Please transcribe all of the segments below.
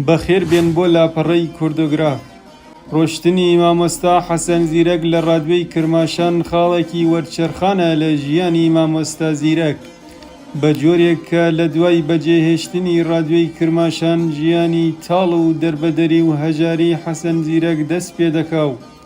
بەخێر بێن بۆ لاپەڕەی کوردۆگراف. ڕۆشتنی مامۆستا حەسەن زیرەک لە ڕادوێی کرماشان خاڵێکی وەرچەرخانە لە ژیانی مامۆستا زیرەک، بە جۆرێک کە لە دوای بەجێهێشتنی ڕادوێی کرماشان ژیانی تاڵ و دەربەدەری و هەژاری حەسەن زیرەک دەست پێ دەکا و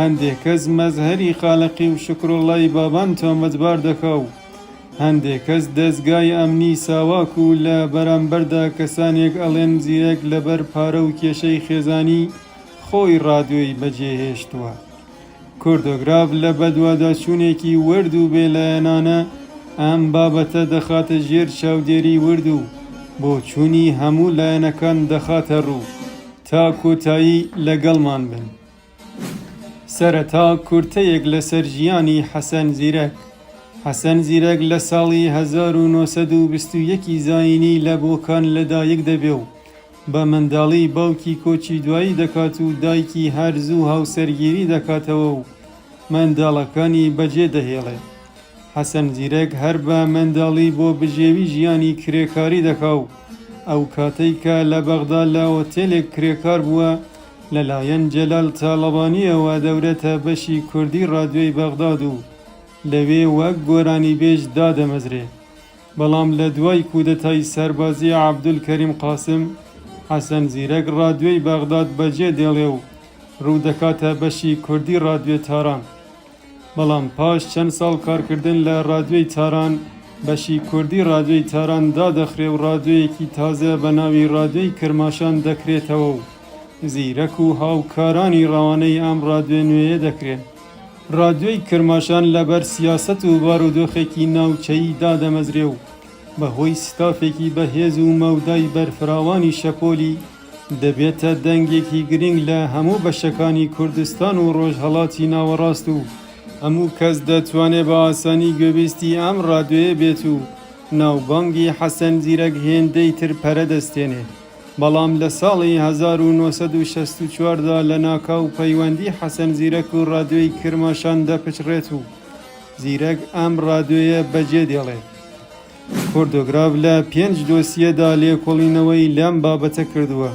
هەندێک کەس مەزهەری خالەقی و شوکروڵڵای بابان تۆمەتبار دەکا و هەندێک کەس دەزگای ئەمنی ساواک و لە بەرامبەردا کەسانێک ئەڵێن زیرەک لەبەر پارە و کێشەی خێزانی خۆی ڕادیۆی بەجێ هێشتووە. کوردۆگراف لە بەدواداچوونێکی ورد و بێ لایەنانە ئەم بابەتە دەخاتە ژێر چاودێری ورد و بۆچوونی هەموو لایەنەکان دەخاتە ڕوو. تا کۆتایی لەگەڵمان بن. سەرەتا کورتەیەک لەسەر ژیانی حەسەن زیرەک. حەسەن زیرەک لە ساڵی هەزار و نۆ سەد و بیست و یەک ی زایینی لە بۆکان لەدایک دەبێ و بە منداڵی باوکی کۆچی دوایی دەکات و دایکی هەر زوو هاوسەرگیری دەکاتەوە و منداڵەکانی بەجێ دەهێڵێ. حەسەن زیرەک هەر بە منداڵی بۆ بژێوی ژیانی کرێکاری دەکا و ئەو کاتەی کە لە بەغدا لە ئۆتێلێک کرێکار بووە، لە لایەن جەلال تاڵەبانییەوە دەورێتە بەشی کوردی ڕادیۆی بەغداد و لەوێ وەک گۆرانیبێژ دادەمەزرێ. بەڵام لە دوای کودەتای سەربازی عەبدولکەریم قاسم، حەسەن زیرەک ڕادیۆی بەغداد بەجێ دێڵێ و ڕوو دەکاتە بەشی کوردی ڕادیۆی تاران. بەڵام پاش چەند ساڵ کارکردن لە ڕادیۆی تاران، بەشی کوردی ڕادیۆی تاران دادەخرێ و ڕادیۆیەکی تازە بە ناوی ڕادیۆی کرماشان دەکرێتەوە و زیرەک و هاوکارانی ڕەوانەی ئەم ڕادیۆ نوێیە دەکرێن. ڕادیۆی کرماشان لەبەر سیاسەت و بارودۆخێکی ناوچەیی دادەمەزرێ و بەهۆی ستافێکی بەهێز و مەودای بەرفراوانی شەپۆلی، دەبێتە دەنگێکی گرینگ لە هەموو بەشەکانی کوردستان و ڕۆژهەڵاتی ناوەڕاست و هەموو کەس دەتوانێ بە ئاسانی گوێبیستی ئەم ڕادیۆیە بێت و ناوبانگی حەسەن زیرەک هێندەی تر پەرە دەستێنێ بەڵام لە ساڵی هەزار و نۆ سەد و شەست و چوار دا لە ناکاو پەیوەندی حەسەن زیرەک و ڕادیۆی کرماشان دەپچڕێت و زیرەک ئەم ڕادیۆیە بەجێ دێڵێ. فۆردۆگراف لە پێنج دۆسیەدا لێکۆڵینەوەی لەم بابەتە کردووە.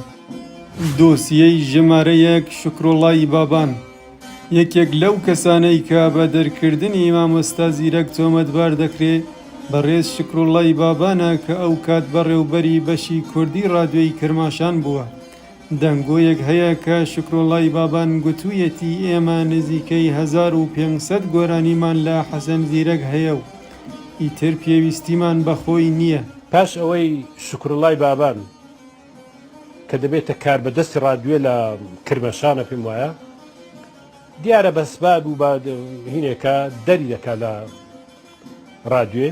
دۆسیەی ژمارە یەک، شوکروڵڵای بابان، یەکێک لەو کەسانەی کە بە دەرکردنی مامۆستا زیرەک تۆمەتبار دەکرێ، بەڕێز شوکروڵڵای بابانە کە ئەو کات بەڕێوبەری بەشی کوردی ڕادیۆی کرماشان بووە. دەنگۆیەک هەیە کە شوکروڵڵای بابان گوتوویەتی ئێمە نزیکەی هەزار و پێنج سەد گۆرانیمان لە حەسەن زیرەک هەیە و، ئیتر پێویستیمان بە خۆی نییە. پاش ئەوەی شوکروللای بابان کە دەبێتە کاربەدەستی ڕادوێ لە کرمەشانە پێم وایە دیارە بەسباب و هینێکە دەری دەکا لە ڕادوێ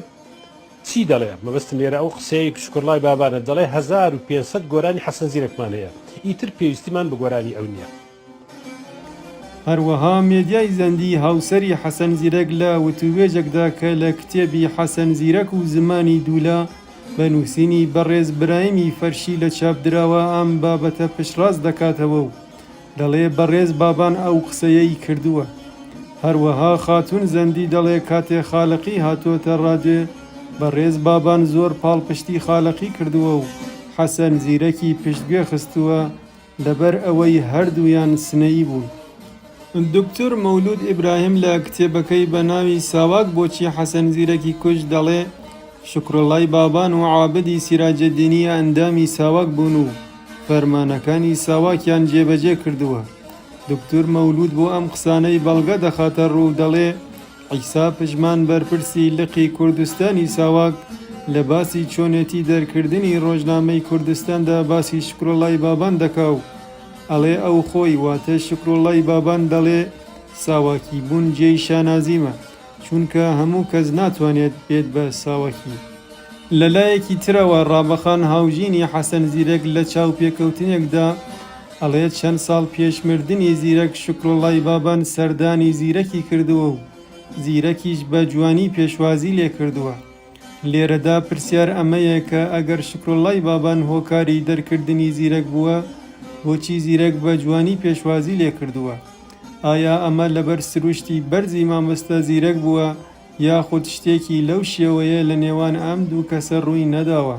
چی دەڵێ مەبەستم لێرە ئەو قسەیەک شکرلای بابانە دەڵێ 1500 گۆرانی حەسەن زیرەکمان هەیە ئیتر پێویستیمان بە گۆرانی ئەو نییە. هەروەها مێدیای زەندی هاوسەری حەسەن زیرەک لە وتووێژێکدا کە لە کتێبی حەسەن زیرەک و زمانی دوولە بە نووسینی بەڕێز برایمی فەرشی لە چاپ دراوە ئەم بابەتە پشتڕاست دەکاتەوە و دەڵێ بەڕێز بابان ئەو قسەیەی کردووە. هەروەها خاتوون زەندی دەڵێ کاتێ خالەقی هاتۆتە ڕادێ بەڕێز بابان زۆر پاڵپشتی خالەقی کردووە و حەسەن زیرەکی پشتگوێ خستووە لەبەر ئەوەی هەردوویان سنەیی بوون. دوکتور مەولوود ئیبراهیم لە کتێبەکەی بە ناوی ساواک بۆچی حەسەن زیرەکی کوشت دەڵێ، شوکروڵڵای بابان و عابدی سیراجەددینی ئەندامی ساواک بوون و فەرمانەکانی ساواکیان جێبەجێ کردووە. دوکتور مەولوود بۆ ئەم قسانەی بەڵگە دەخاتە ڕوو و دەڵێ، عیسا پژمان بەرپرسی لقی کوردستانی ساواک لە باسی چۆنێتی دەرکردنی ڕۆژنامەی کوردستاندا باسی شکرۆڵای بابان دەکا و ئەڵێ ئەو خۆی واتە شکرۆڵای بابان دەڵێ ساواکی بوون جێی شانازیمە چونکە هەموو کەس ناتوانێت بێت بە ساواکی. لەلایەکی ترەوە ڕابەخان هاوژینی حەسەن زیرەک لە چاوپێکەوتنێکدا، ئەڵێ چەند ساڵ پێش مردنی زیرەک شوکروڵڵای بابان سەردانی زیرەکی کردووە و زیرەکیش بە جوانی پێشوازی لێ کردووە. لێرەدا پرسیار ئەمەیە کە ئەگەر شوکروڵڵای بابان هۆکاری دەرکردنی زیرەک بووە، بۆچی زیرەک بە جوانی پێشوازی لێ کردووە؟ ئایا ئەمە لەبەر سرووشتی بەرزی مامۆستا زیرەک بووە یاخود شتێکی لەو شێوەیە لە نێوان ئەم دوو کەسە ڕووی نەداوە؟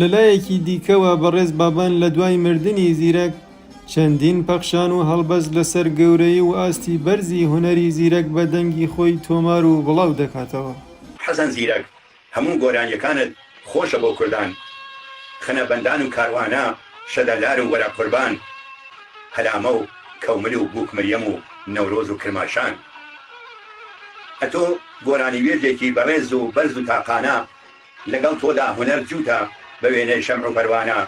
لە لایەکی دیکەوە بەڕێز بابان لە دوای مردنی زیرەک، چەندین پەخشان و هەڵبەست لەسەر گەورەیی و ئاستی بەرزی هونەری زیرەک بە دەنگی خۆی تۆمار و بڵاو دەکاتەوە. حەسەن زیرەک هەموو گۆرانیەکانت خۆشە بۆ کوردان خنە بەندان و کاروانە شەدەلار و وەرە قوربان هەلامە و کەومل و بوک مریەم و نەورۆز و کرماشان ئەتۆ گۆرانیوێژێکی بەڕێز و بەرز و تاقانە لەگەڵ تۆدا هونەر جووتە بە وێنەی شەمع و پەروانە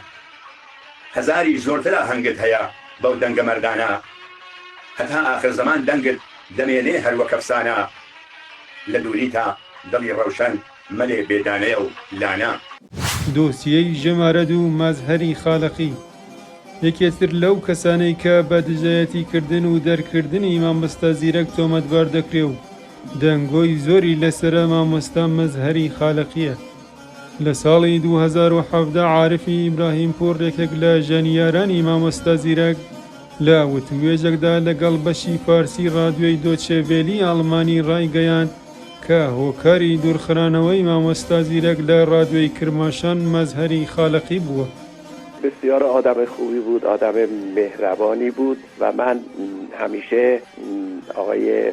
هەزاریش زۆرتر ئاهەنگت هەیە بەو دەنگە مەردانە هەتا ئاخر زەمان دەنگت دەمێنێ هەر وەک ئەفسانە لە دووریتا دڵی ڕەوشەن مەلێ بێ دانەیە و لانە. دۆسیەی ژمارە دوو مەزهەری خالەقی، یەکێتر لەو کەسانەی کە بە دژایەتیکردن و دەرکردنی مامۆستا زیرەک تۆمەتبار دەکرێ و دەنگۆی زۆری لەسەرە مامۆستا مەزهەری خالەقیە. لە ساڵی دوو هەزار و حەڤدە عارفی ئیبراهیمپوور یەکێک لە ژەنیارانی مامۆستا زیرەک لە وتووێژێکدا لەگەڵ بەشی فارسی ڕادیۆی دۆچێ ڤێلی ئاڵمانی ڕایگەیاند کە هۆکاری دوورخرانەوەی مامۆستا زیرەک لە ڕادیۆی کرماشان مەزهەری خالەقی بووە. بسیار آدم خوبی بود آدم مهربانی بود و من همیشه آقای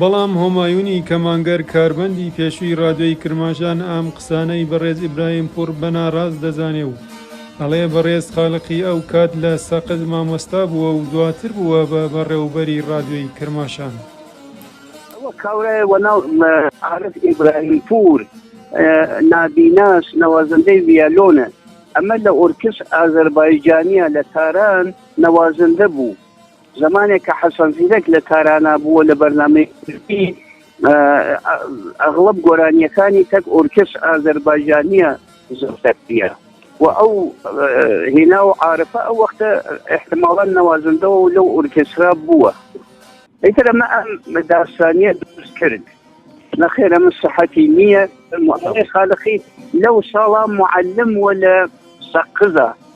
بەڵام هۆمایونی کەمانگەر کاربەندی پێشووی ڕادیۆی کرماشان ئەم قسانەی بەڕێز ئیبراهیم پوور بە ناڕاست دەزانێ و ئەڵێ بەڕێز خالقی ئەو کات لە سەقز مامۆستا بووە و دواتر بووە بە بەڕێوبەری ڕادیۆی کرماشان. ئەوە کابرایە وە ناو خالق ئیبراهیم پوور نابیناس نوازندەی ڤیالۆنە ئەمە لە ئۆرکس ئازەربایجانیە لە تاران نوازندە بوو. زمانێک کە حەسەن زیرەک لە تارانا بووە لە بەرنامەی ئەغڵب گۆرانیەکانی تەک ئۆرکس ئازەربایجانیە زۆرتەکتە و ئەو هێنا و عاعرفە ئەو وەختە احتماڵان نەوازندەوە و لەو ئۆرکسرا بووە ئیتر ئەمە ئەم داستانیە دروست کرد نەخێرە من سەحەتی نییە خالقی لەو ساڵا معلم وە لە سەقزە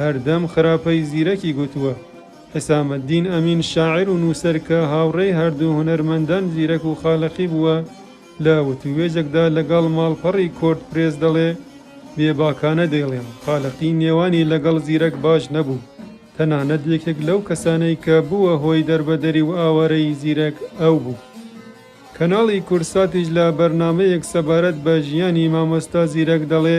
هەردەم خراپەی زیرەکی گوتووە. حسامەدین ئەمین شاعیر و نووسەر کە هاوڕێی هەردوو هونەرمەندان زیرەک و خالەقی بووە، لە وتووێژێکدا لەگەڵ ماڵپەڕی کۆرد پرێس دەڵێ، بێباکانە دەیڵێم، خالەقی نێوانی لەگەڵ زیرەک باش نەبوو، تەنانەت یەکێک لەو کەسانەی کە بووە هۆی دەربەدەری و ئاوارەیی زیرەک ئەو بوو. کەناڵی کوردساتیش لە بەرنامەیەک سەبارەت بە ژیانی مامۆستا زیرەک دەڵێ،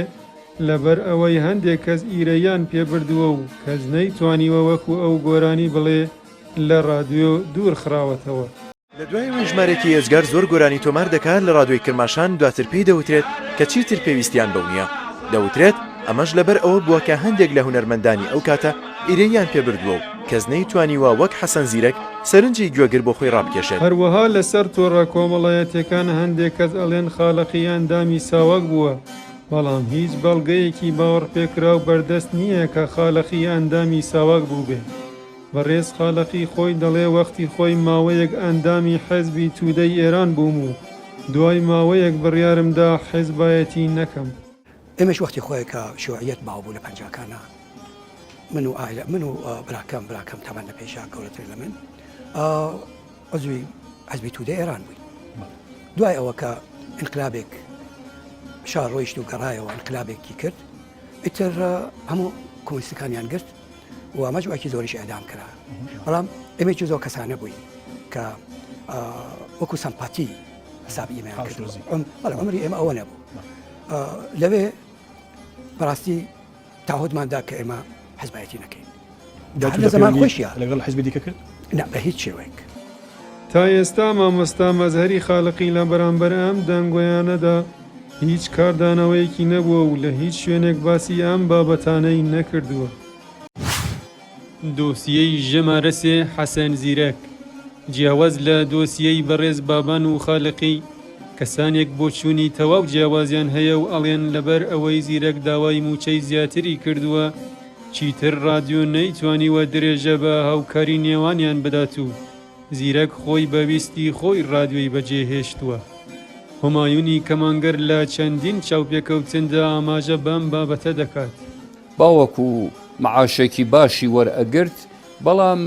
لەبەر ئەوەی هەندێک کەس ئیرەییان پێ بردووە و کەس نەیتوانیوە وەکو ئەو گۆرانی بڵێ لە ڕادیۆ دوور خراوەتەوە. لە دوای ئەوەی ژمارەیەکی ئێجگار زۆر گۆرانی تۆمار دەکا لە ڕادیۆی کرماشان دواتر پێی دەوترێت کە چیتر پێویستیان بەو نییە. دەوترێت ئەمەش لەبەر ئەوە بووە کە هەندێک لە هونەرمەندانی ئەو کاتە ئیرەییان پێ بردووە و، کەس نەیتوانیوە وەک حەسەن زیرەک سەرنجی گوێگر بۆ خۆی ڕابکێشێت. هەروەها لەسەر تۆڕە کۆمەڵایەتیەکان هەندێک کەس ئەڵێن خالەقی ئەندامی ساواک بووە، بەڵام هیچ بەڵگەیەکی باوەڕپێکراو بەردەست نییە کە خالەقی ئەندامی ساواک بووبێت. بەڕێز خالەقی خۆی دەڵێ وەختی خۆی ماوەیەک ئەندامی حێزبی تودەی ئێران بووم و دوای ماوەیەک بڕیارم دا حێزبایەتی نەکەم. ئێمەش وەختی خۆی کە شیوعیەت باو بوو لە پەنجاکانا من و ئایلە من و براکەم براکەم تەمەن لە پێشا گەورەتر لە من عزوی حزبی تودە ئێران بووی دوای ئەوە کە انقلابێک شا ڕۆیشت و گەڕایەوە انقلابێکی کرد ئیتر هەموو کۆنسەکانیان گرت و مەجوکی زۆریش ئەدام کرا بەڵام ئێمەی زۆر کەسانە بووین کە وەکو سەمپاتی حساب ئیمەیان کرد بەڵام عمری ئێمە ئەوە نەبوو لەوێ بەڕاستی تاهۆدمان دا کە ئێمە حزبایەتی نەکەین لە زمان خۆشیە لەگەڵ حزبی دیکە کرد نە بە هیچ شێوەیەک تا ئێستا مامۆستا مەزهری خالقی لە بەرامبەر ئەم دەنگۆیانەدا هیچ کاردانەوەیەکی نەبووە و لە هیچ شوێنێک باسی ئەم بابەتانەی نەکردووە. دۆسیەی ژمارە سێ حەسەن زیرەک، جیاواز لە دۆسیەی بەڕێز بابان و خالقی، کەسانێک بۆچوونی تەواو جیاوازیان هەیە و ئەڵێن لەبەر ئەوەی زیرەک داوای مووچەی زیاتری کردووە چیتر ڕادیۆ نەیتوانیوە درێژە بە هاوکاری نێوانیان بدات و زیرەک خۆی بە ویستی خۆی ڕادیۆی بەجێهێشتووە. هومایونی کەمانگەر لە چەندین چاوپێکەوتندا ئاماژە بەم بابەتە دەکات. باوک و معاشێکی باشی وەرئەگرت بەڵام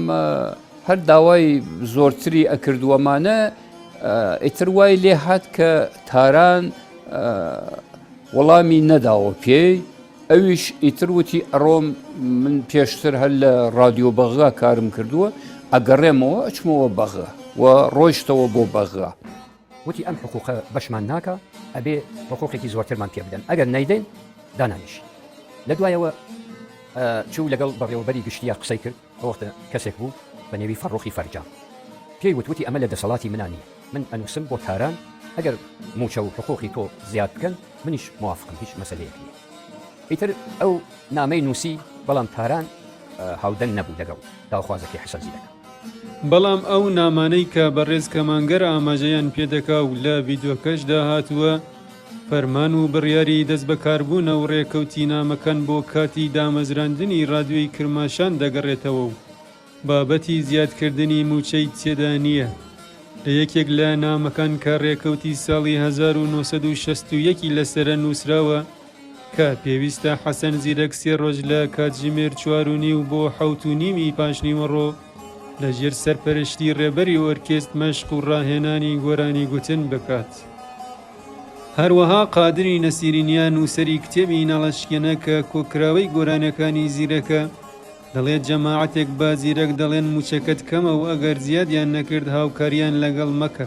هەر داوای زۆرتری ئەکرد وەمانە ئیتر وای لێ هات کە تاران وەڵامی نەداوە پێی ئەویش ئیتر وتی ئەڕۆم من پێشتر هەر لە ڕادیۆ بەغا کارم کردووە ئەگەڕێمەوە ئەچمەوە بەغا و ڕۆیشتەوە بۆ بەغا وتی ئەم حقوقە بەشمان ناکا ئەبێ حقوقێکی زۆرترمان پێ بدەن ئەگەر نەیدەین دانانیشی لە دوایەوە چوو لەگەڵ بەڕێوەبەری گشتیا قسەی کرد ئەوەختە کەسێک بوو بە نێوی فەڕۆخی فەرجام پێی وتوتی ئەمە لە دەسەڵاتی منانی من ئەنووسم بۆ تاران ئەگەر موچە و حقوقی تۆ زیاد بکەن منیش موافقم هیچ مەسلەیەک نیە ئیتر ئەو نامەی نووسی بەڵام تاران هاودەنگ نەبوو لەگەڵ داوخوازەکەی حەسەن زیرەکە بەڵام ئەو نامانەی کە بەڕێز کەمانگەر ئاماژەیان پێ دەکا و لە ڤیدیۆکەشدا هاتووە، فەرمان و بڕیاری دەستبەکاربوونە و ڕێکەوتی نامەکان بۆ کاتی دامەزراندنی ڕادیۆی کرماشان دەگەڕێتەوە و بابەتی زیادکردنی مووچەی تێدا نییە. لە یەکێک لە نامەکان کە ڕێکەوتی ساڵی هەزار و نۆ سەد و شەست و یەک ی لەسەرە نووسراوە، کە پێویستە حەسەن زیرەک سێ ڕۆژ لە کاتژمێر چوار و نیو بۆ حەوت و نیوی پاشنیوەڕۆ لە ژێر سەرپەرشتی ڕێبەری ئۆرکێست مەشق و ڕاهێنانی گۆرانی گوتن بکات. هەروەها قادری نەسیرینیا نووسەری کتێبی نەڵەشکێنە کە کۆکراوەی گۆرانەکانی زیرەکە دەڵێت جەماعەتێک بە زیرەک دەڵێن موچەکەت کەمە و ئەگەر زیادیان نەکرد هاوکاریان لەگەڵ مەکە.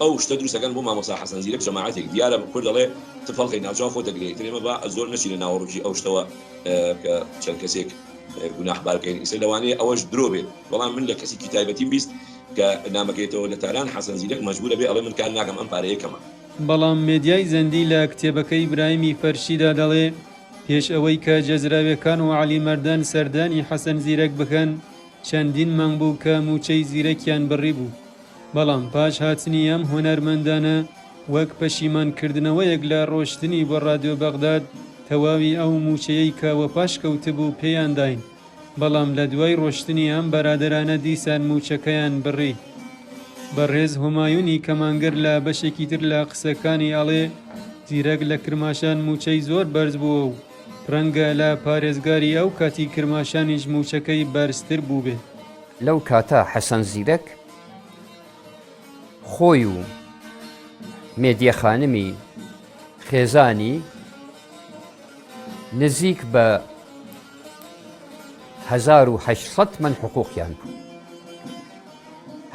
ئەو شتە دروست ئەکەن بۆ مامۆستا حەسەن زیرەک جەماعەتێک دیارە کورد ئەڵێ تف هەڵقەی ناوچاو خۆت ئەگرێ ئیتر ئێمە با زۆر نەچینە ناوەڕۆکی ئەو شتەوە کە چەند کەسێک گوناح بار بکەین ئیتر لەوانەیە ئەوەش درۆ بێت بەڵام من لە کەسێکی تایبەتیم بیست کە نامەکەیەتەوە لە تاران حەسەن زیرەک مەجبور ئەبێ ئەڵێ من کار ناکەم ئەم پارەیە کەمە. بەڵام مێدیای زەندی لە کتێبەکەی برایمی فەرشیدا دەڵێ پێش ئەوەی کە جەزراوێکان و عەلی مەردان سەردانی حەسەن زیرەک بکەن، چەندین مانگ بوو کە مووچەی زیرەکیان بڕیبوو، بەڵام پاش هاتنی ئەم هونەرمەندانە، وەک پەشیمانکردنەوەیەک لە ڕۆشتنی بۆ ڕادیۆ بەغداد، تەواوی ئەو مووچەیەی کە وەپاش کەوتبوو پێیان داین، بەڵام لە دوای ڕۆشتنی ئەم بەرادەرانە دیسان مووچەکەیان بڕی. بەڕێز هومایونی کەمانگەر لە بەشێکی تر لە قسەکانی ئەڵێ، زیرەک لە کرماشان مووچەی زۆر بەرز بووە و، ڕەنگە لە پارێزگاری ئەو کاتی کرماشانیش مووچەکەی بەرزتر بووبێت. لەو کاتە حەسەن زیرەک خۆی و مێدیە خانمی خێزانی نزیک بە هەزار و هەشت سەد تمەن حقووقیان بوو.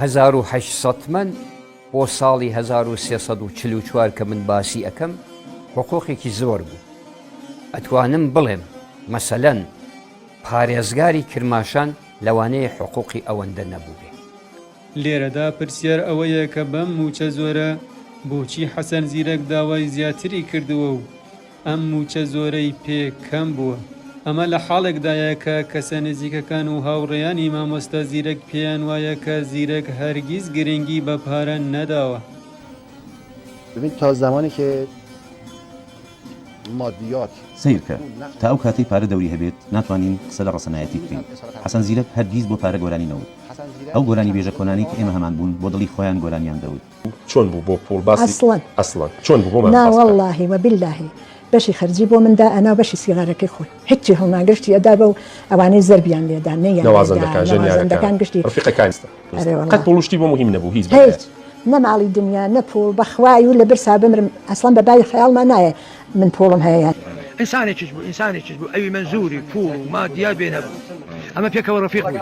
هەزار و هەشت سەد تمەن بۆ ساڵی هەزار و سێ سەد و چل و چوار کە من باسی ئەکەم حقوقێکی زۆر بوو ئەتوانم بڵێم مەسەلەن پارێزگاری کرماشان لەوانەیە حقوقی ئەوەندە نەبووبێ. لێرەدا پرسیار ئەوەیە کە بەم مووچە زۆرە بۆچی حەسەن زیرەک داوای زیاتری کردووە و ئەم مووچە زۆرەی پێ کەم بووە. ئەمە لە حاڵێکدایە کە کەسە نزیکەکان و هاوڕێیانی مامۆستا زیرەک پێیان وایە کە زیرەک هەرگیز گرنگی بە پارە نەداوە. ببین تا زمانی کە مادیات. سەیرکە، تا ئەو کاتەی پارە دەوری هەبێت ناتوانین قسە لە ڕەسەنایەتی بکەین. حەسەن زیرەک هەرگیز بۆ پارە گۆرانی نەوت. ئەو گۆرانیبێژە کۆنانەی کە ئێمە هەمان بوون بۆ دڵی خۆیان گۆرانیان دەوت. چۆن بوو بۆ پوڵ باسی ئەسڵەن ئەسڵەن چۆن بوو بۆمان نا باس بکە. وەڵڵاهی وە باللەهی بەشی خەرجی بۆ من دا ئەنا و بەشی سیغارەکەی خۆی هیچی هەڵنا گشتی ئەدا بەو ئەوانەی زەربیان لێ دا نەیان لێ دا نەوازەندەکان ژەنیارەکان نەوازەندەکان گشتی ڕفیقەکانی ستا ئەرێ وەڵڵا قەت پوڵ و شتی بۆ موهیم نەبوو هیچ بە هیچ نە ماڵی دنیا نە پوڵ بە خوای و لە برسا بمرم ئەسڵەن بە بای خەیاڵما نایە من پوڵم هەیە یان. ئینسانێکیش بوو ئینسانێکیش بوو ئەوی مەنزووری پوڵ و مادیات بێ نەبوو ئەمە پێکەوە ڕفیق بووین.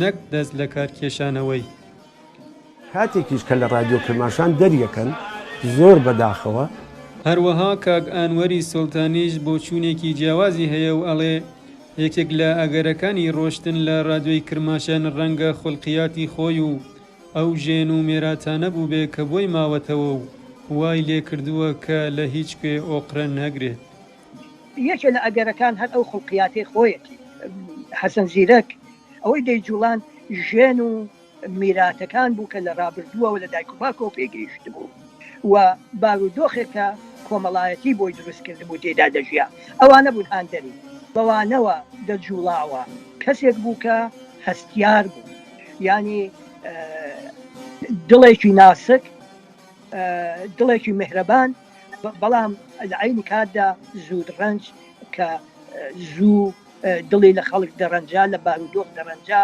نەک دەست لەکار کێشانەوەی. کاتێکیش کە لە رادیۆ کرماشان دەریەکەن زۆر بە داخەوە. هەروەها کاک ئانوەری سوڵتانیش بۆچوونێکی جیاوازی هەیە و ئەڵێ، یەکێک لە ئەگەرەکانی رۆشتن لە رادیۆی کرماشان رەنگە خولقیاتی خۆی و ئەو ژێن و مێراتانە بووبێ کە بۆی ماوەتەوە و وای لێکردووە کە لە هیچ کوێ ئۆقرە نەگرێت. یەکێ لە ئەگەرەکان هەر ئەو خوڵقیاتەی خۆیەتی. حەسەن زیرەک ئەوەی دەیجوڵاند ژێن و میراتەکان بوو کە لە ڕابردووەوە لە دایک و باوکەوە پێی گەیشتبوو و بارودۆخێک کە کۆمەڵایەتی بۆی دروست کردبوو تێیدا دەژیا. ئەوانە بوون هاندەری. بەوانەوە دەجوڵاوە. کەسێک بوو کە هەستیار بوو. یانی دڵێکی ناسک، دڵێکی میهرەبان. بەڵام لە عەینی کاتدا زود ڕەنج کە زوو دڵی لە خەڵک دەڕەنجا لە بارودۆخ دەڕەنجا.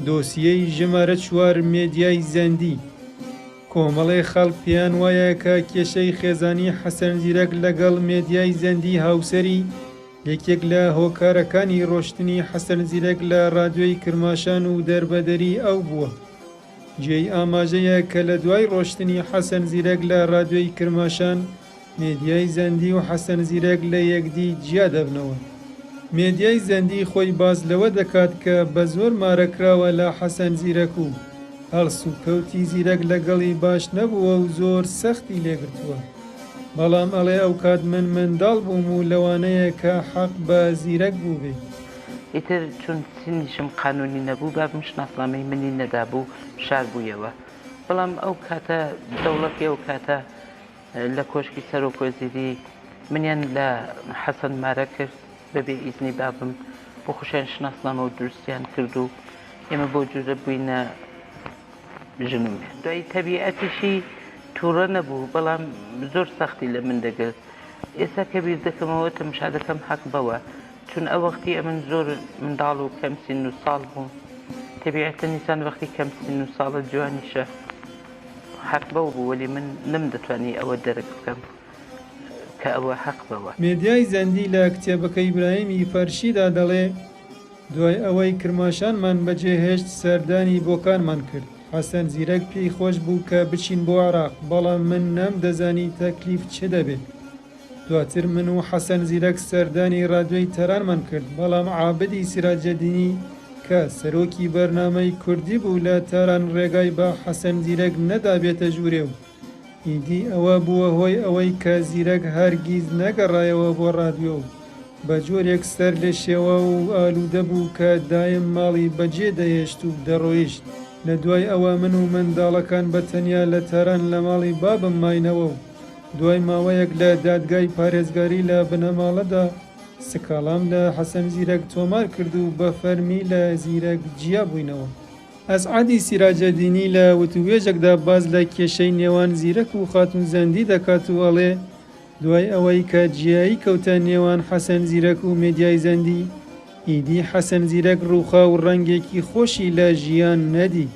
دۆسیەی ژمارە چوار مێدیای زەندی کۆمەڵێ خەڵک پێیان وایە کە کێشەی خێزانی حەسەن زیرەک لەگەڵ مێدیای زەندی هاوسەری یەکێک لە هۆکارەکانی ڕۆشتنی حەسەن زیرەک لە ڕادیۆی کرماشان و دەربەدەری ئەو بووە. جێی ئاماژەیە کە لە دوای ڕۆشتنی حەسەن زیرەک لە ڕادیۆی کرماشان، مێدیای زەندی و حەسەن زیرەک لە یەکدی جیا دەبنەوە. مێدیای زەندی خۆی باس لەوە دەکات کە بە زۆر مارە کراوە لە حەسەن زیرەک و هەڵسوکەوتی زیرەک لەگەڵی باش نەبووە و زۆر سەختی لێ گرتووە. بەڵام ئەڵێ ئەوکات من منداڵ بووم و لەوانەیە کە حەق بە زیرەک بووبێ. ئیتر چون سنیشم قانونی نەبوو بابم شناسنامەی منی نەدابوو شار بوویەوە بەڵام ئەو کاتە دەوڵەتی ئەو کاتە لە کۆشکی سەرۆک وەزیری منیان لە حەسەن مارە کرد بەبێ ئیزنی بابم بۆ خۆشیان شناسنامە و دروستیان کرد و ئێمە بەو جورە بووینە ژن و مێ دوای تەبیعەتیشی توڕە نەبوو بەڵام زۆر سەختی لە من دەگرت ئێستا کە بیر دەکەمەوە تەمشا دەکەم حەق بەوە چون ئە وەختی ئەمن زۆر منداڵ و کەم سن و ساڵ بووم تەبیعەتەن ئیسان وەختی کەم سن و ساڵە جوانیشە حەق بەو بوو وەلی من نەم دەتوانی ئەوە دەرک بکەم کە ئەوە حەق بەوە. مێدیای زەندی لە کتێبەکەی ئیبراهیم ی فەرشیدا دەڵێ، دوای ئەوەی کرماشانمان بەجێهێشت سەردانی بۆکانمان کرد، حەسەن زیرەک پێی خۆش بوو کە بچین بۆ عێراق، بەڵام من نەمدەزانی تەکلیف چ دەبێ، دواتر من و حەسەن زیرەک سەردانی رادیۆی تارانمان کرد، بەڵام عابدی سیراجەدینی کە سەرۆکی بەرنامەی کوردی بوو لە تاران رێگای بە حەسەن زیرەک نەدا بێتە ژوورێ و ئیدی ئەوە بووە هۆی ئەوەی کە زیرەک هەرگیز نەگەڕایەوە بۆ رادیۆ و بە جۆرێک سەرلێشێواو و ئالوودە بوو کە دایم ماڵی بەجێ دەهێشت و دەڕۆیشت. لە دوای ئەوە من و منداڵەکان بە تەنیا لە تاران لە ماڵی بابم ماینەوە و، دوای ماوەیەک لە دادگای پارێزگاری لە بنەماڵەدا، سکاڵام لە حەسەن زیرەک تۆمار کرد و بە فەرمی لە زیرەک جیا بووینەوە. ئەسعەدی سیراجەدینی لە وتووێژێکدا باس لە کێشەی نێوان زیرەک و خاتوو زەندی دەکات و ئەڵێ، دوای ئەوەی کە جیایی کەوتە نێوان حەسەن زیرەک و مێدیای زەندی، ئیدی حەسەن زیرەک ڕووخا و ڕەنگێکی خۆشی لە ژیان نەدی.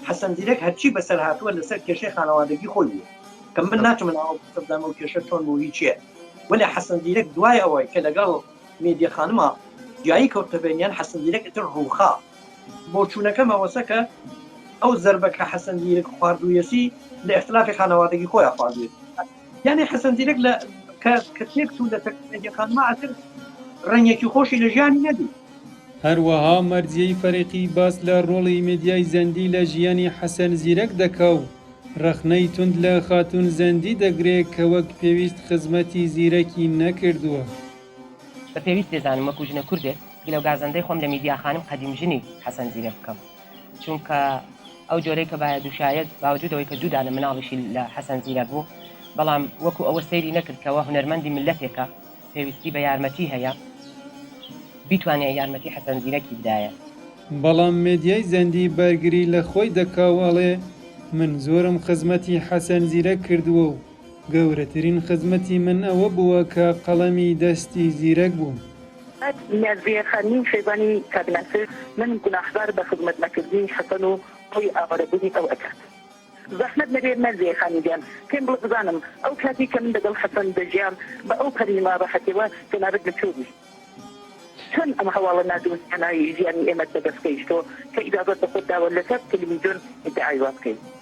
حەسەن زیرەک هەرچی بەسەر هاتووە لەسەر کێشەی خانەوادەگی خۆی بووە کە من ناچمە ناو ئەو قسە بدەم ئەو کێشە چۆن بوو هی چیە وەلێ حەسەن زیرەک دوای ئەوەی کە لەگەڵ مێدیە خانمە جیایی کەوتە بەینیان حەسەن زیرەک ئیتر ڕووخا بۆچوونەکەم ئەوەسە کە ئەو زەربە کە حەسەن زیرەک خواردوویەتی لە ئیختلافی خانەوادەگی خۆیا خواردوویەتی. یانێ حەسەن زیرەک لە کە تێک و لە تەکنەجی خانمە ئەتر ڕەنگێکی خۆشی لە ژیانی نەبی هەروەها مەرجیی فەرقی باس لە ڕۆڵی میدیای زەندی لە ژیانی حەسەن زیرەک دەکا و ڕەخنەی توند لە خاتوون زەندی دەگرێ کە وەک پێویست خزمەتی زیرەکی نەکردووە. بە پێویست دەزانم وەکوو ژنە کوردێک گلە و گازەندەی خۆم لە میدیا خانم قەدیم ژنی حەسەن زیرەک بکەم. چونکە ئەو جۆرەی کە بایە دووشایەت باوجود ئەوەی کە دوو دانە مناڵیشی لە حەسەن زیرەک بوو بەڵام وەکو ئەوە سەیری نەکرد کەوە هونەرمەندی میللەتێکە پێویستی بە یارمەتی هەیە بیتوانێ یارمەتی حەسەن زیرەکی بدایە. بەڵام مێدیای زەندی بەرگری لە خۆی دەکا و ئەڵێ من زۆرم خزمەتی حەسەن زیرەک کردووە و گەورەترین خزمەتی من ئەوە بووە کە قەڵەمی دەستی زیرەک بووم. ئەک نیازیە خانی خێزانی کاک ناسر من گوناحبار بە خزمەت نەکردنی حەسەن و خۆی ئاوارە بونی ئەو ئەکات زەحمەت نەبێ نازیە خانی گیان پێم بڵێ بزانم ئەو کاتی کە من دەگەڵ حەسەن دەژیام بە ئەو پەری ناڕەحەتیەوە کەنارت لە کوێ بوو چۆن ئەم هەواڵە نادونیانای ژیانی ئێمەت بە دەست گەیشتۆ کە ئیجازەت بە خۆت داوە لەسەر تەلەویزیۆن ئیدعای وا بکەی.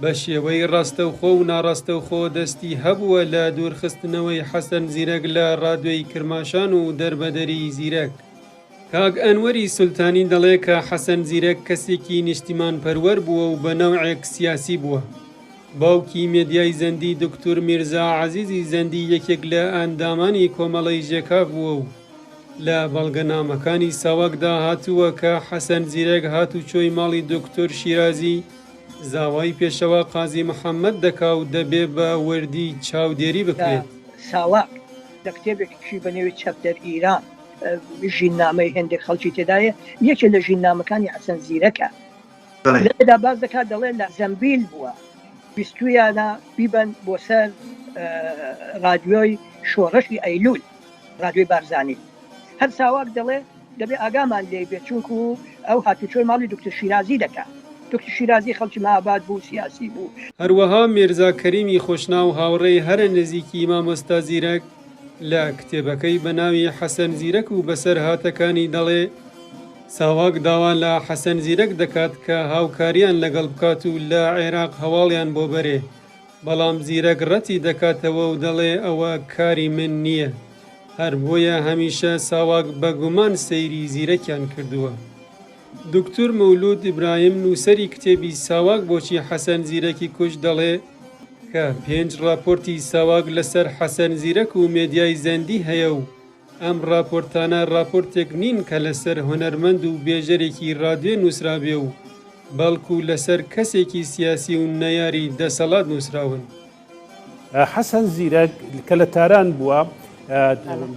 بە شێوەی ڕاستەوخۆ و ناڕاستەوخۆ دەستی هەبووە لە دوورخستنەوەی حەسەن زیرەک لە ڕادوێی کرماشان و دەربەدەری زیرەک. کاک ئەنوەری سولتانی دەڵێ کە حەسەن زیرەک کەسێکی نیشتیمانپەروەر بووە و بە نەوعێک سیاسی بووە. باوکی مێدیای زەندی دوکتور میرزا عەزیزی زەندی یەکێک لە ئەندامانی کۆمەڵەی ژێکاف بووە و لە بەڵگەنامەکانی ساواکدا هاتووە کە حەسەن زیرەک هاتوچۆی ماڵی دوکتور شیرازی زاوای پێشەوا قازی محەممەد دەکا و دەبێ بە وردی چاودێری بکرێت. ساواک لە کتێبێکیشی بە نێوی چەپتەر ئیران ژیننامەی هێندێک خەڵکی تێدا یە، یەکێ لە ژیننامەکانی حەسەن زیرەکە. لێرەدا باس دەکا دەڵێ لە زەمبیل بووە، ویستوویانە بیبەن بۆ سەر ڕادیۆی شۆڕشی ئەیلوول، ڕادیۆی بارزانی. هەر ساواک دەڵێ. دەبێ ئاگامان لێی بێ چونکو ئەو هاتوچۆی ماڵی دوکتور شیرازی دەکا. دوکتور شیرازی خەڵکی مهاباد بوو، سیاسی بوو. هەروەها میرزا کەریمی خۆشناو هاوڕێی هەرە نزیکی مامۆستا زیرەک لە کتێبەکەی بە ناوی حەسەن زیرەک و بەسەرهاتەکانی دەڵێ، ساواک داوا لە حەسەن زیرەک دەکات کە هاوکاریان لەگەڵ بکات و لە عێراق هەواڵیان بۆ بەرێ بەڵام زیرەک ڕەتی دەکاتەوە و دەڵێ ئەوە کاری من نییە. هەر بۆیە هەمیشە ساواک بە گومان سەیری زیرەکیان کردووە. دوکتور مەولوود ئیبراهیم نووسەری کتێبی ساواک بۆچی حەسەن زیرەکی کوشت دەڵێ، کە پێنج ڕاپۆرتی ساواک لەسەر حەسەن زیرەک و مێدیای زەندی هەیە و ئەم ڕاپۆرتانە ڕاپۆرتێک نین کە لەسەر هونەرمەند و بێژەرێکی ڕادیۆ نووسرابێ و بەڵکوو لەسەر کەسێکی سیاسی و نەیاری دەسەڵات نووسراون. حەسەن زیرەک کە لە تاران بووە،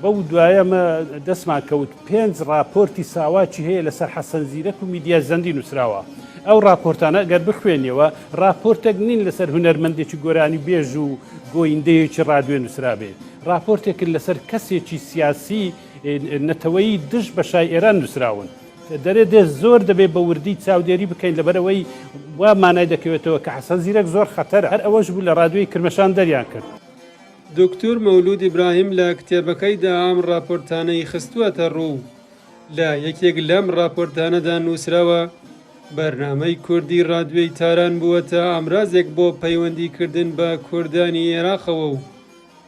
بەو دوایە دەستمان کەوت پێنج ڕاپۆرتی ساواکی هەیە لەسەر حەسەن زیرەک و میدیای زەندی نووسراوە. ئەو ڕاپۆرتانە گەر بخوێنیەوە ڕاپۆرتێک نین لەسەر هونەرمەندێکی گۆرانیبێژ و گۆیندەیەکی ڕادیۆ نووسرابێ. ڕاپۆرتێکن لەسەر کەسێکی سیاسی نەتەوەیی دژ بە شای ئێران نووسراون. دەرێ دێ زۆر دەبێ بە وردی چاودێری بکەین لەبەرەوەی وا مانای دەکەوێتەوە کە حەسەن زیرەک زۆر خەتەرە. هەر ئەوەش بوو لە ڕادیۆی کرمەشان دەریان کرد. دوکتور مەولوود ئیبراهیم لە کتێبەکەیدا ئەم ڕاپۆرتانەی خستووەتە ڕوو. لە یەکێک لەم ڕاپۆرتانەدا نووسراوە، بەرنامەی کوردی ڕادیۆی تاران بووەتە ئامرازێک بۆ پەیوەندیکردن بە کوردانی ئێراقەوە و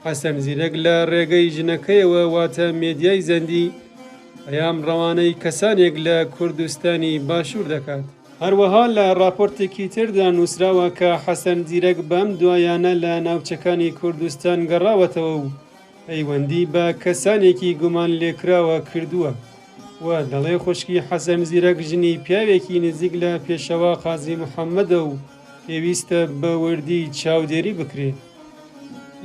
حەسەن زیرەک لە ڕێگەی ژنەکەیەوە واتە مێدیای زەندی پەیام ڕەوانەی کەسانێک لە کوردستانی باشوور دەکات. هەروەها لە ڕاپۆرتێکی تردا نووسراوە کە حەسەن زیرەک بەم دوایانە لە ناوچەکانی کوردستان گەڕاوەتەوە و پەیوەندی بە کەسانێکی گومان لێکراوە کردووە و دەڵێ خوشکی حەسەن زیرەک ژنی پیاوێکی نزیک لە پێشەوا قازی محەممەدە و پێویستە بە وردی چاودێری بکرێت.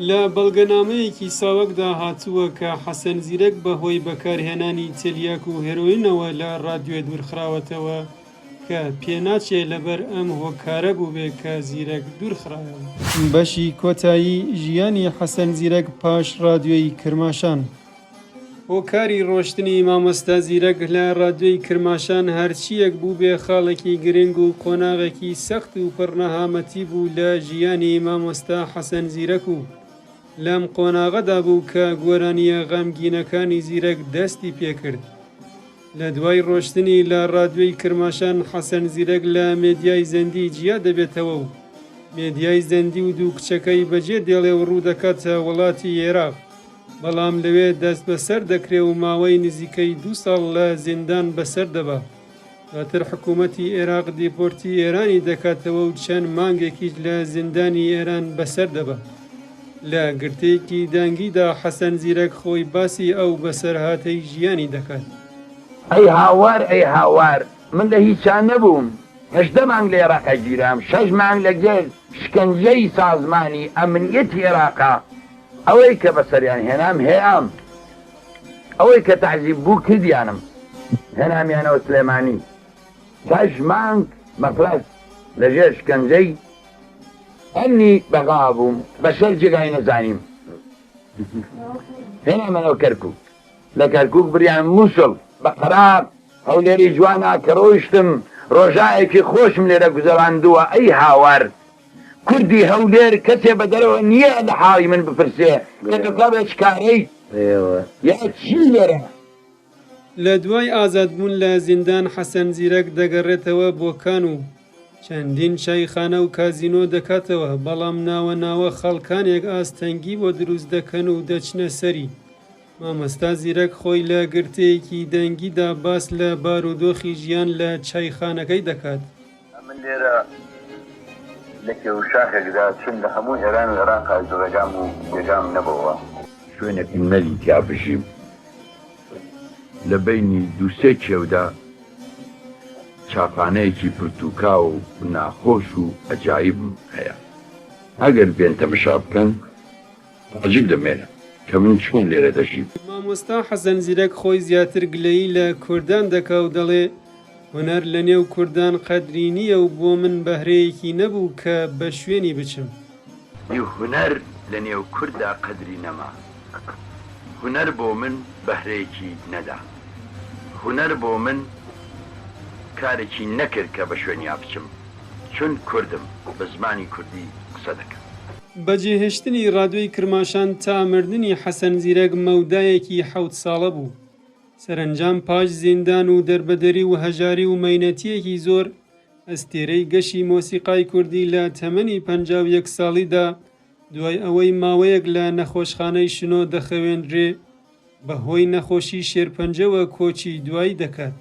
لە بەڵگەنامەیەکی ساواکدا هاتووە کە حەسەن زیرەک بە هۆی بەکارهێنانی تلیاک و هێرۆینەوە لە ڕادیۆ دوورخراوەتەوە کە پێناچێ لەبەر ئەم هۆکارە بووبێ کە زیرەک دوورخرایەوە. بەشی کۆتایی ژیانی حەسەن زیرەک پاش ڕادیۆی کرماشان. هۆکاری ڕۆشتنی مامۆستا زیرەک لە ڕادیۆی کرماشان هەرچییەک بووبێ خاڵێکی گرنگ و قۆناغێکی سەخت و پڕ نەهامەتی بوو لە ژیانی مامۆستا حەسەن زیرەک و لەم قۆناغەدا بوو کە گۆرانییە غەمگینەکانی زیرەک دەستی پێ کرد. لە دوای ڕۆشتنی لە ڕادیۆی کرماشان حەسەن زیرەک لە مێدیای زەندی جیا دەبێتەوە و مێدیای زەندی و دوو کچەکەی بەجێ دێڵێ و ڕوو دەکاتە وڵاتی ئێراق. بەڵام لەوێ دەست بەسەر دەکرێ و ماوەی نزیکەی دوو ساڵ لە زیندان بەسەر دەبا. دواتر حکوومەتی ئێراق دیپۆرتی ئێرانی دەکاتەوە و چەند مانگێکیش لە زیندانی ئێران بەسەر دەبا. لە گرتەیەکی دەنگیدا حەسەن زیرەک خۆی باسی ئەو بەسەرهاتەی ژیانی دەکات. ئەی هاوار ئەی هاوار، من لە هیچا نەبووم، هەژدە مانگ لە ئێراق ئەگیرام، شەش مانگ لەگەر شکەنجەی سازمانی ئەمنییەتی ئێراقا، ئەوەی کە بەسەریان هێنام هێام. ئەوەی کە تەعزیب بوو کردیانم هێنامیانەوە سلێمانی هەشت مانگ مەفرەز لە ژێر شکەنجەی ئەمنی بەغا بووم بە شەش جێگای نەزانیم هێنامەنەوە کەرکوک لە کەرکوک بریان مووسڵ بە قەرار هەولێری جوانە کە ڕۆیشتم ڕۆژایەکی خۆشم لێرە گوزەراندووە ئەی هاوار کوردی هەولێر کەسێ بە دەرەوە نییە لە حاڵی من بپرسێ کە تۆ کابرا چ کارەیت یا چی لێرە؟ لە دوای ئازادبوون لە زیندان حەسەن زیرەک دەگەڕێتەوە بۆ کان و چەندین چایخانە و کازینۆ دەکاتەوە، بەڵام ناوە ناوە خەڵکانێک ئاستەنگی بۆ دروست دەکەن و دەچنە سەری. مامۆستا زیرەک خۆی لە گرتەیەکی دەنگیدا باس لە بارودۆخی ژیان لە چایخانەکەی دەکات. ئەمن لێرە لە کێوشاخێکدا چووم لە هەموو ئێران و عێراق ئاوج ڕێگام و جێگام نەبۆوە. شوێنێکم نەدیتیا بژیم لە بەینی دوو سێ کێودا چاپانەیەکی پرتووکاو و ناخۆش و ئەجایبم هەیە ئەگەر بێن تەمەشا بکەن تاجیک دەمێنن کە من چۆن لێرە دەژیم. مامۆستا حەسەن زیرەک خۆی زیاتر گلەیی لە کوردان دەکا و دەڵێ هونەر لە نێو کوردان قەدری نییە و بۆ من بەهرەیەکی نەبوو کە بە شوێنی بچم. ی هونەر لە نێو کورددا قەدری نەما. هونەر بۆ من بەهرەیەکی نەدا. هونەر بۆ من کارێکی نەکرد کە بە شوێنیا بچم. چون کوردم، بە زمانی کوردی قسە دەکەم. بە جێهێشتنی ڕادیۆی کرماشان تا مردنی حەسەن زیرەک مەودایەکی حەوت ساڵە بوو. سەرەنجام پاش زیندان و دەربەدەری و هەژاری و مەینەتییەکی زۆر، ئەستێرەی گەشی مۆسیقای کوردی لە تەمەنی پەنجا و یەک ساڵیدا، دوای ئەوەی ماوەیەک لە نەخۆشخانەی شنۆ دەخەوێندرێ، بەهۆی نەخۆشی شێرپەنجەوە کۆچی دوایی دەکات.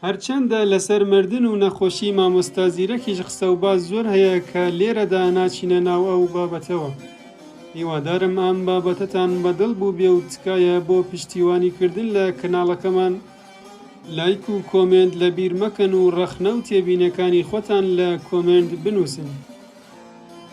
هەرچەندە لەسەر مردن و نەخۆشی مامۆستا زیرەکیش قسە و باس زۆر هەیە کە لێرەدا ناچینە ناو ئەو بابەتەوە. هیوادارم ئەم بابەتەتان بە دڵ بووبێ و تکایە بۆ پشتیوانی کردن لە کەناڵەکەمان لایک و کۆمێنت لە بیر مەکەن و ڕەخنە و تێبینەکانی خۆتان لە کۆمێنت بنووسن.